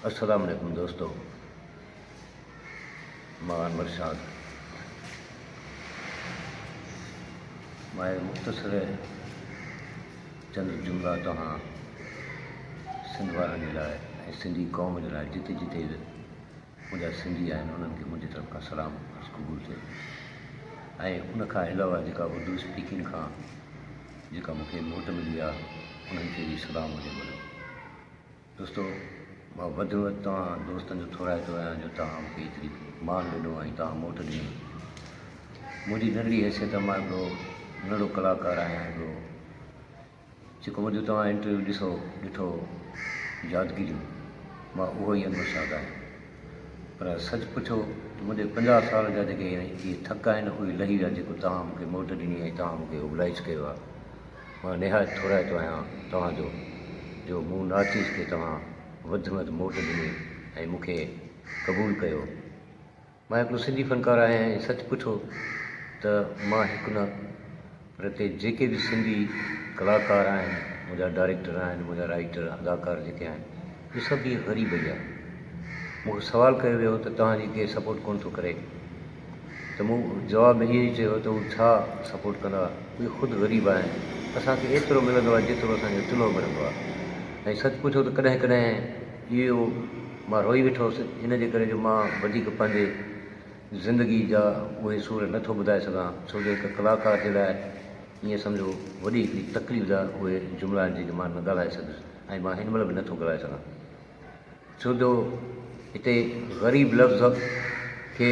السلام عليڪم دوستو مان مرشاد مان مختصر چند جملا توهان سنڌ وارن جي لاء ۽ سنڌي قوم جي لاء جتي جتي منهنجا سنڌي آهن انهن کي منهنجي طرف کان سلام عرض قبول ٿئي ۽ ان کان علاوه جيڪا اردو اسپيڪنگ کان جيڪا مون کي موٽ ملي آهي انهن کي به سلام هجي وڏو دوستو مان وڌ ۾ وڌ توهان دوستن جو ٿورائتو آهيان جو توهان مون کي ايتري مان ڏنو ۽ توهان موٽ ڏنو منهنجي ننڍڙي حيثيت مان هڪڙو ننڍڙو ڪلاڪار آهيان هڪڙو جيڪو منهنجو توهان انٽرويو ڏسو ڏٺو يادگيريون مان اهو ئي انور شاد آهيان پر سچ پڇو ته منهنجي پنجاهه سال جا جيڪي اهي ٿڪ آهن اهي لهي ويا جيڪو توهان مونکي موٽ ڏني ۽ توهان مونکي اوبلائج ڪيو آهي مان نهايت ٿورائتو آهيان توهان جو جو مون نارٿ ايسٽ کي توهان وڌ ۾ وڌ موٽ ڏني ۽ مونکي قبول ڪيو مان هڪڙو سنڌي فنڪار آهيان ۽ سچ پڇو ته مان هڪ نه پر هتي جيڪي به سنڌي ڪلاڪار آهن، منهنجا ڊائريڪٽر آهن، منهنجا رائيٽر، اداڪار جيڪي آهن اهي سڀ به غريب ئي آهن. مون کان سوال ڪيو ويو هو ته توهان جي ڪير سپورٽ ڪونه ٿو ڪري ته مون جواب ۾ اهو ئي چيو هو ته هو ڇا سپورٽ ڪندا اهي خود غريب آهن اسان کي ايترو ملندو آهي جيترو اسان جو چلهو ملندو آهي ۽ سچ پڇو ته ڪڏهن ڪڏهن اهو مان روئي ويٺو هوس، ان جي ڪري جو مان وڌيڪ پنهنجي زندگيء جا اهي سور نه ٿو ٻڌائي سگهان، ڇو جو هڪ ڪلاڪار جي لاء ائين سمجهو وڏي هڪڙي تڪليف جا اهي جملا آهن، جيڪي مان نه ڳالهائي سگهيس ۽ مان هن مهل به نه ٿو ڳالهائي سگهان، ڇو جو هتي غريب لفظ کي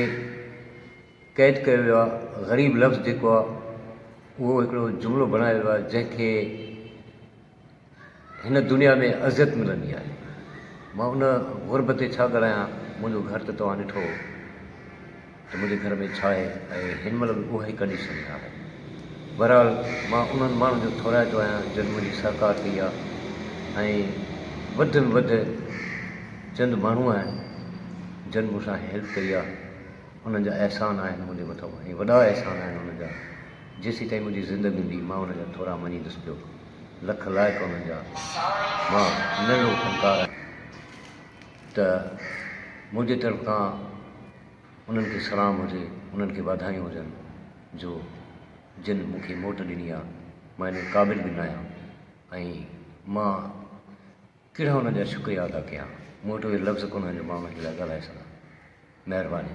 قيد ڪيو ويو آهي، غريب لفظ جيڪو آهي، اهو هڪڙو جملو بڻايو ويو آهي، جنهن کي. هن دنيا ۾ اذيت ملندي آهي. مان ان غربت تي ڇا ڳالهايان، منهنجو گهر ته توهان ڏٺو هو ته منهنجي گهر ۾ ڇا آهي ۽ هن مهل به اها ئي ڪنڊيشن ۾ آهي. بهرحال مان انهن ماڻهن جو ٿورائتو آهيان جن منهنجي سهڪار ڪئي آهي ۽ وڌ ۾ وڌ چند ماڻهو آهن جن مون سان هيلپ ڪئي آهي انهن جا احسان آهن منهنجي مٿان ۽ وڏا احسان آهن انهن جا. جيسين تائين منهنجي زندگي هوندي مان انهن جا ٿورا مڃيندس پيو. لک لائق انهن جا مان ننڍڙو فنڪار آهيان ته منهنجي طرف کان انهن کي سلام هجي، انهن کي واڌايون هجن جو جن مون کي موٽ ڏني آهي. مان انهن قابل به ناهيان ۽ مان ڪهڙا انهن جا شڪريا ادا ڪيان. مون وٽ اهي لفظ ڪونهن جو مان انهن جي لاء ڳالهائي سگهان. مهرباني.